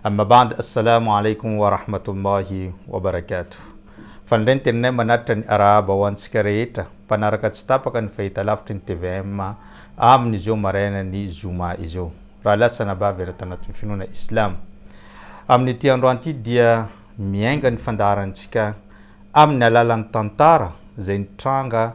Amma ba'd Assalamu alaikum wa rahmatullahi wa barakatuh Fa indray ny teninay manatitra ny arahaba ho antsika rehetra mpanaraka tsy tapaka ny fahitalavitry ny tvm amin izao maraina ny zoma izao Raha lasa na bavy ianao tanatin'ny finoana islamo amin'ity androany ity dia miainga ny fandaharantsika amin'ny alalan'ny tantara izay nitranga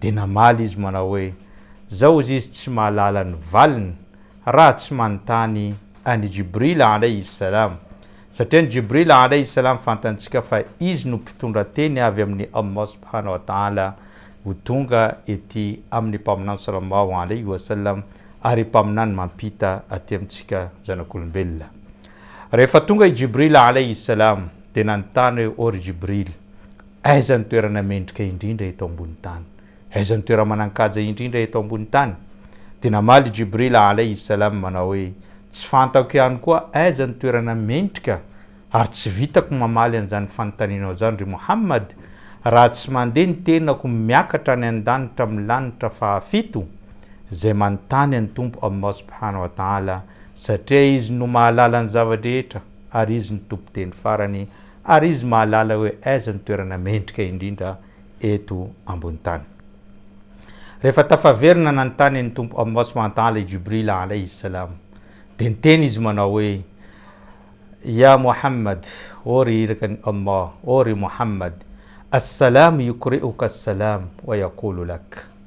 Dia namaly izy manao hoe, Zao hozy izy tsy mahalala ny valiny raha tsy manontany an' i Jibril alaihi s-salam, satria ny Jibril alaihi s-salam fantantsika fa izy no mpitondra teny avy amin' i Allah subhanahu wa ta'ala ho tonga ety amin' ny Mpaminany sallallahu alaihi wa sallam ary Mpaminany mampita aty amintsika zanak' olombelona. Rehefa tonga i Jibril alaihi s-salam dia nanontany hoe, O ry Jibril, Aiza ny toerana mendrika indrindra eto ambony tany? Aiza ny toerana manan-kaja indrindra eto ambony tany? Dia namaly i Jibrila alaihi s-salam manao hoe, Tsy fantako ihany koa aiza ny toerana mendrika ary tsy vitako mamaly an'izany fanontanianao izany, ry Mohammad, raha tsy mandeha ny tenako miakatra any an-danitra amin'ny lanitra fahafito, izay manontany an'i Tompo Allah subhanahu wa ta'ala, satria Izy no mahalala ny zava-drehetra ary Izy no Tompon-teny farany ary izy mahalala hoe aiza no toerana mendrika indrindra eto ambony tany. Rehefa tafaverina nanontany ny Tompo Allah Subhanahu wa Ta'ala i Jibril Alayhi Salam, dia niteny izy manao hoe, Ya Muhammad, ô ry Iraka an'i Allah, ô ry Muhammad, As-Salam yukri'uka as-Salam wa yaqulu lak,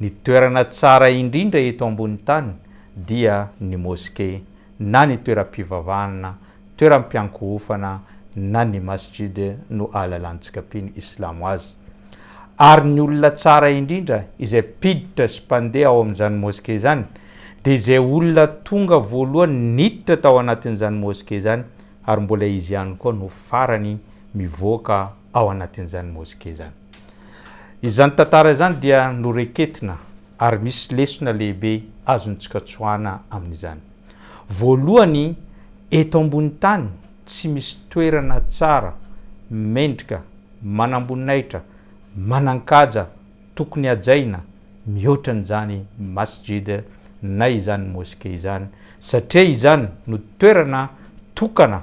Ny toerana tsara indrindra eto ambony tany dia ny moske na ny toeram-pivavahana, toeram-piankohofana na ny masjid no ahalalantsika mpino islamo azy. Ary ny olona tsara indrindra izay mpiditra sy mpandeha ao amin'izany moske izany dia izay olona tonga voalohany niditra tao anatin'izany moske izany ary mbola izy ihany koa no farany mivoaka ao anatin'izany moske izany. Izany tantara izany dia noraiketina ary misy lesona lehibe azontsika tsoahana amin'izany. Voalohany, eto ambony tany tsy misy toerana tsara, mendrika, manamboninahitra, manankaja tokony hajaina mihoatra an'izany masjid na izany moske izany satria izany no toerana tokana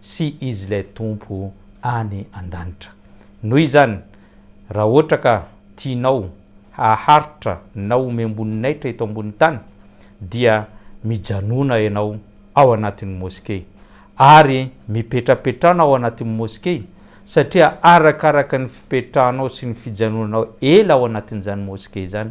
sy Izy ilay Tompo any an-danitra. Noho izany, raha ohatra ka tianao haharitra na homem-boninahitra eto ambonin'ny tany, dia mijanona ianao ao anatin'ny moskey, ary mipetrapetrana ao anatin'ny moskey, satria arakaraka ny fipetrahanao sy ny fijanonanao ela ao anatin'izany moskey izany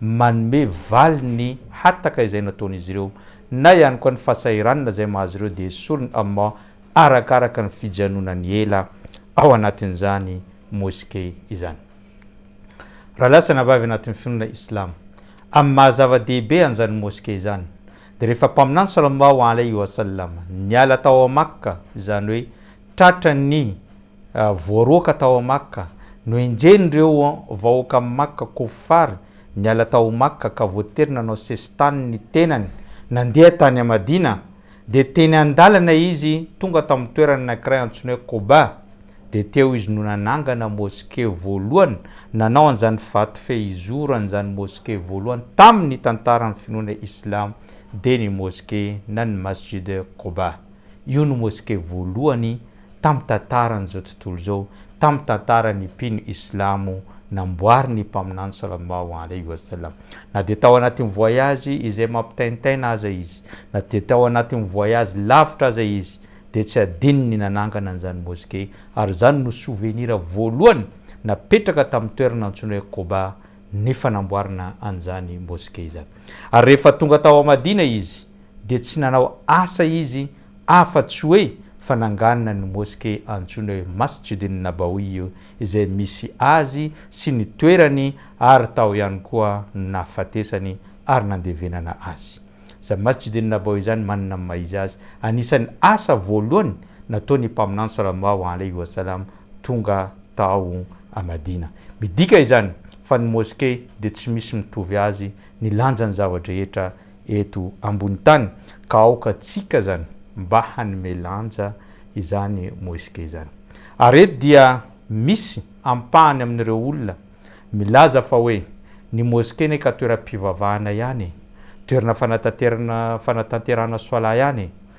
manome valiny ny hataka izay nataon'izy ireo na ihany koa ny fahasahiranana izay mahazo ireo dia esorin'i Allah arakaraka ny fijanonany ela ao anatin'izany Mosquée izany. Raha lahy sy anabavy anatin'ny finoana Islamo amin'ny maha zava-dehibe an'izany Mosquée izany dia rehefa Mpaminany Sallallahu Alaihi Wasallam niala tao Makka izany hoe tratran'ny Voaroaka tao Makka, nohenjehin'ireo vahoakan'i Makka, Kuffar, niala tao Makka ka voatery nanao sesitany ny tenany nandeha tany Madina, dia teny an-dalana izy tonga tamin'ny toerana anankiray antsoina hoe Quba, dia teo izy no nanangana moske voalohany, nanao an'izany vato fehizoro an'izany moske voalohany tamin'ny tantaran'ny finoana Islamo dia ny moske na ny Masjid Quba. Io no moske voalohany tamin'ny tantaran'izao tontolo izao, tamin'ny tantaran'ny mpino islamo namboarin'ny Mpaminany salallahu alaihi wa sallam. Na dia tao anatin'ny voyage izay mampitaintaina aza izy, na dia tao anatin'ny voyage lavitra aza izy, dia tsy adinony ny nanangana an'izany Mosquée, ary izany no souvenir voalohany napetraka tamin'ny toerana antsoina hoe Quba ny fanamboarana an'izany Mosquée izany. Ary rehefa tonga tao Madina izy dia tsy nanao asa izy Afa tsy hoe fananganana ny moske antsoina hoe Masjidin Nabawiyu izay misy azy sy ny toerany ary tao ihany koa no nahafatesany ary nandevenana azy. Izany Masjidin Nabawiyu izany manana ny maha izy azy, anisan'ny asa voalohany nataon'ny Mpaminany Sallallahu alaihi wa sallam tonga tao a Madina. Midika izany fa ny moske dia tsy misy mitovy azy ny lanjan'ny zava-drehetra eto ambony tany ka aoka tsika zany mba hanome lanja izany moesquet izany. Ary eto dia misy ampahany amin'ireo olona milaza fa hoe ny moesquet ne ka toeram-pivavahana ihany e, toerana fanatanterana fanatanterahana soalà ihany e,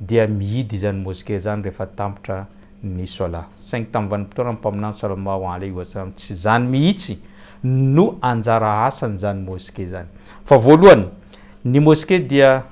dia mihidy izany mosquée izany rehefa tampitra ny solat, saingy tamin'ny vanim-potoanan'ny mpaminany Sallallahu alaihi wa sallam tsy izany mihitsy no anjara asan'izany mosquée izany fa voalohany ny mosquée dia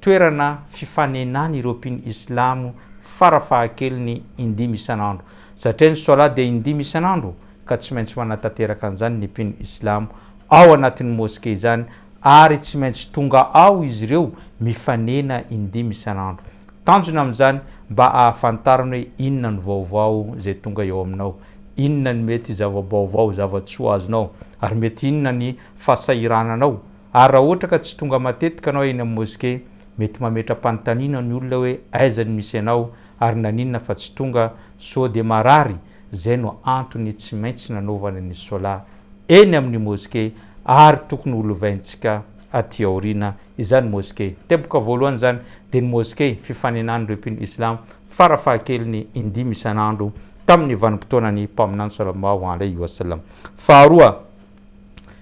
toerana fifanenan'ireo mpino islamo fara fahakeliny indimy isan'andro satria ny solat dia indimy isan'andro ka tsy maintsy manatanteraka an'izany ny mpino islamo ao anatin'ny mosquée izany ary tsy maintsy tonga ao izy ireo mifanena indimy isan'andro. Tanjona amin'izany mba ahafantarany hoe inona ny vaovao izay tonga eo aminao, inona ny mety zava-baovao, zava-tsoa azonao, ary mety inona ny fahasahirananao. Ary raha ohatra ka tsy tonga matetika ianao eny amin'ny moske, mety mametra-panontaniana ny olona hoe aiza ny misy anao ary naninona fa tsy tonga, sao dia marary? Izay no antony tsy maintsy nanaovana ny sola eny amin'ny moske ary tokony ho lovaintsika aty aoriana izany moske. Ny teboka voalohany izany dia ny moske fifaninan'ireo mpino islam fara fahakeliny indimy isan'andro tamin'ny vanim-potoanan'ny Mpaminany Swallallahu Alaihi Wasallam. Faharoa,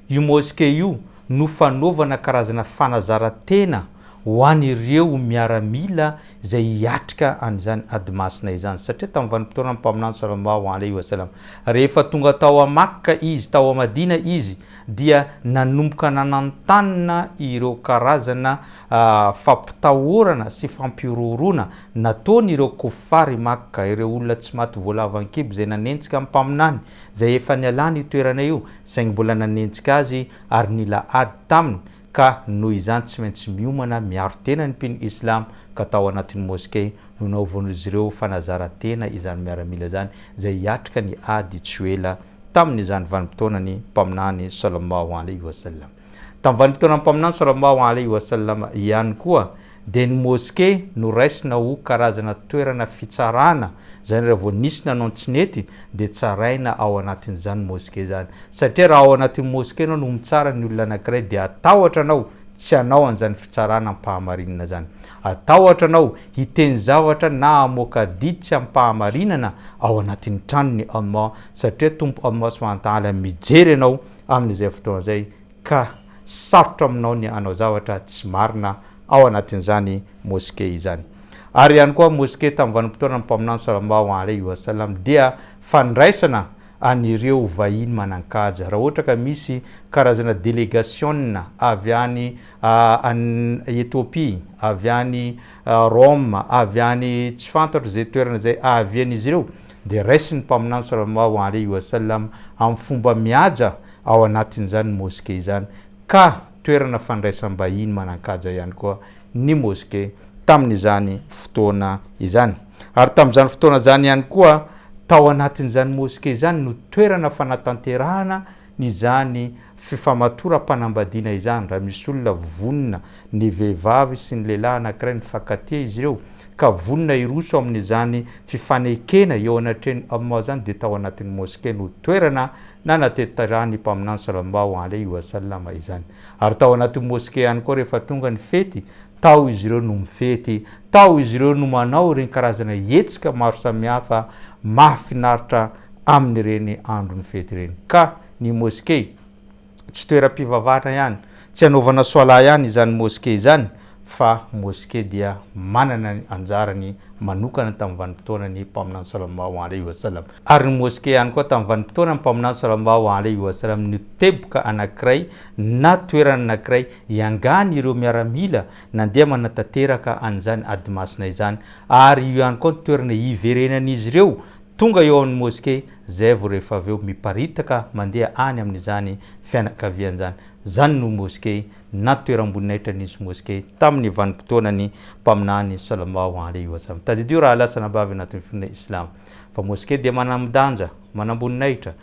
Io mosquée io no fanaovana karazana fanazaran-tena ho an'ireo miaramila izay hiatrika an'izany ady masina izany, satria tamin'ny vanim-potoanan'ny Mpaminany Salallahu alaihi wa sallam, rehefa tonga tao à Makka izy, tao à Madina izy, dia nanomboka nanantanina ireo karazana fampitahorana sy fampihorohoroana nataon'ireo Kuffar i Makka, ireo olona tsy maty voalavankibo izay nanenjika ny Mpaminany, izay efa nialany io toerana io saingy mbola nanenjika azy ary nila ady taminy ka noho izany tsy maintsy miomana miaro tena ny mpino Islam ka tao anatin'ny Moskey no naovaon'izy ireo fanazaran-tena izany miaramila izany izay hiatrika ny ady tsy ho ela tamin'izany vanim-potoanan'ny Mpaminany Sallallahu Alaihi Wasallam. Tamin'ny vanim-potoanan'ny Mpaminany Salallahu alaihi wa sallam ihany koa dia ny Moske no raisina ho karazana toerana fitsarana, izany hoe raha vao nisy nanao ny tsy nety dia tsaraina ao anatin'izany Moske izany. Satria raha ao anatin'ny Moske ianao no mitsara ny olona anankiray dia hatahotra anao tsy hanao an'izany fitsarana am-pahamarinana izany. Hatahotra anao hiteny zavatra na hamoaka adidy tsy am-pahamarinana ao anatin'ny tranony Allah satria Tompo Allah subhanahu wa ta'ala mijery anao amin'izay fotoana izay ka sarotra aminao ny hanao zavatra tsy marina ao anatin'izany mosquée izany. Ary ihany koa mosquée tamin'ny vanim-potoanan'ny Mpaminany Salallahu alaihi wa sallam dia fandraisana an'ireo vahiny manan-kaja raha ohatra ka misy karazana delegasionina avy any Ethiopie, avy any Rome, avy any tsy fantatro izay toerana izay ahavian'izy ireo dia raisin'ny Mpaminany Sallallahu alaihi wa sallam amin'ny fomba mihaja ao anatin'izany Mosquée izany ka toerana fandraisam-bahiny manan-kaja ihany koa ny Mosquée tamin'izany fotoana izany. Ary tamin'izany fotoana izany ihany koa tao anatin'izany Mosquée izany no toerana fanatanterahana izany fifamatoram-panambadiana izany raha misy olona vonona ny vehivavy sy ny lehilahy anankiray mifankatia izy ireo ka vonona hiroso amin'izany fifanekena eo anatrehan'ny Allah izany dia tao anatin'ny Moske no toerana nanatetaran'ny Mpaminany Sallallahu alaihi wa sallam izany ary tao anatin'ny Moske ihany koa rehefa tonga ny fety Tao izy ireo no mifety, tao izy ireo no manao ireny karazana hetsika maro samihafa mahafinaritra amin'ireny andron'ny fety ireny. Ka ny Moske, tsy toeram-pivavahana ihany, tsy anaovana Swala ihany izany Moske izany, fa Moske dia manana ny anjarany manokana tamin'ny vanim-potoanan'ny Mpaminany Salallahu alaihi wa sallam. Ary ny Moske ihany koa tamin'ny vanim-potoanan'ny Mpaminany Salallahu alaihi wa sallam no teboka anankiray na toerana anankiray Iangany ireo miaramila nandeha manatanteraka an'izany ady masina izany ary io ihany koa no toerana iverenan'izy ireo tonga eo amin'ny moske izay vao rehefa avy eo miparitaka mandeha any amin'izany fianakaviana izany. Izany no moske na toeram-boninahitra nisy moske tamin'ny vanim-potoanan'ny Mpaminany Sallallahu Alaihi Wasallam. Tadidio raha lasa anabavy anatin'ny finoana Islamo fa moske dia manamdanja, manamboninahitra,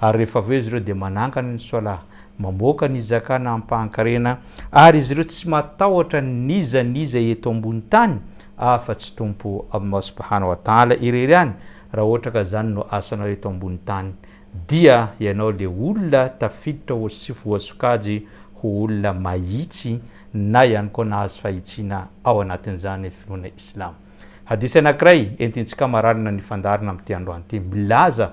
Ary rehefa avy eo izy ireo dia manangana ny Salah, mamoaka ny Zakana amim-pahankarena, ary izy ireo tsy matahotra n'iza n'iza eto ambony tany afa-tsy Tompo Allah subhanahu wa ta'ala irery ihany, raha ohatra ka izany no asanao eto ambony tany, dia ianao le olona tafiditra ho sy voasokajy ho olona mahitsy na ihany koa nahazo fahitsiana ao anatin'izany finoana Islamo. Hadith anankiray entintsika mararina ny fandaharana amin'ity androany ity milaza.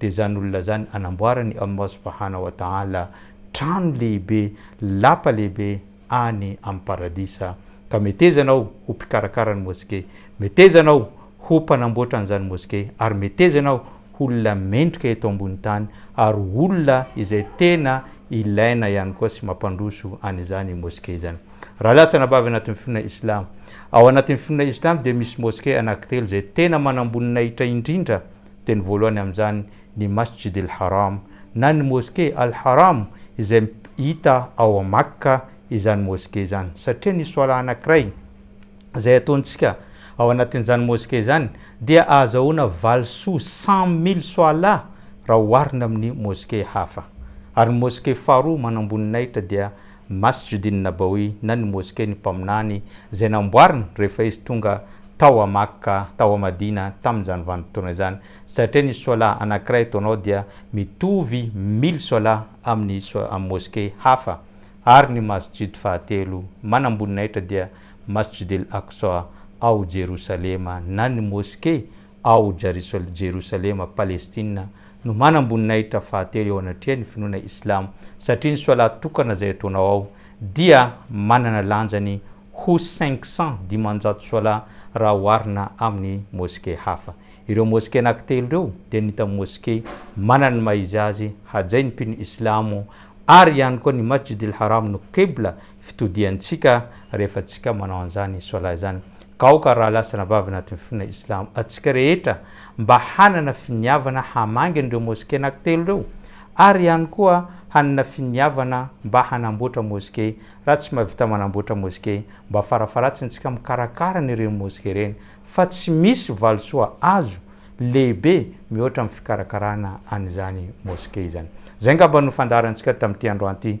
dia izany olona izany hanamboarany Allah subahana wa ta'ala trano lehibe, lapa lehibe any amin'ny paradisa. Ka meteza ianao ho mpikarakara ny moske, meteza ianao ho mpanamboatra an'izany moske, ary meteza ianao ho olona mendrika eto ambony tany, ary olona izay tena ilaina ihany koa sy mampandroso an'izany moske izany. Rahalahy sy anabavy anatin'ny finoana islamo, ao anatin'ny finoana islamo dia misy moske anankitelo izay tena manamboninahitra indrindra, Teny voalohany amin'izany ny Masjid al-Haram, na ny Moske al-Haram, izay hita ao Makka izany Moske izany, satria ny Swalah anankiray izay ataontsika ao anatin'izany Moske izany dia ahazahoana valisoa cent mille Swalah raha oharina amin'ny Moske hafa. Ary ny Moske faharoa manamboninahitra dia Masjidin Nabawi na ny Moske'ny Mpaminany izay namboariny rehefa izy tonga tao à Makka, tao à Madina, tamin'izany vanim-potoana izany, satria ny Swalah anankiray ataonao dia mitovy mille Swalah amin'ny amin'ny Moske hafa, ary ny Masjid fahatelo manamboninahitra dia Masjid El Aqsa ao Jerosalema na ny Moske ao Jerosalema, Palestina, no manamboninahitra fahatelo eo anatrehan'ny finoana Islamo, satria ny Swalat tokana izay ataonao ao dia manana lanjany ho cinq cents, dimanjato Swalat, raha oharina amin'ny Moske hafa. Ireo Moske anankitelo ireo dia ny hita Moske manana ny maha izy azy hajain'ny mpino Islamo ary ihany koa ny Masjid al-Haram no Qibla fitodihantsika rehefa tsika manao an'izany Swalat izany. Gaoka raha lasana vavy anatin'ny finoana Islamo antsika rehetra mba hanana finiavana hamangy an'ireo Mosquée anankitelo ireo ary ihany koa hanana finiavana mba hanamboatra Mosquée raha tsy mahavita manamboatra Mosquée mba farafaharatsiny tsika mikarakara an'ireny Mosquée ireny fa tsy misy valisoa azo lehibe mihoatra amin'ny fikarakarana an'izany Mosquée izany. Izay angamba no fandaharantsika tamin'ity androany ity.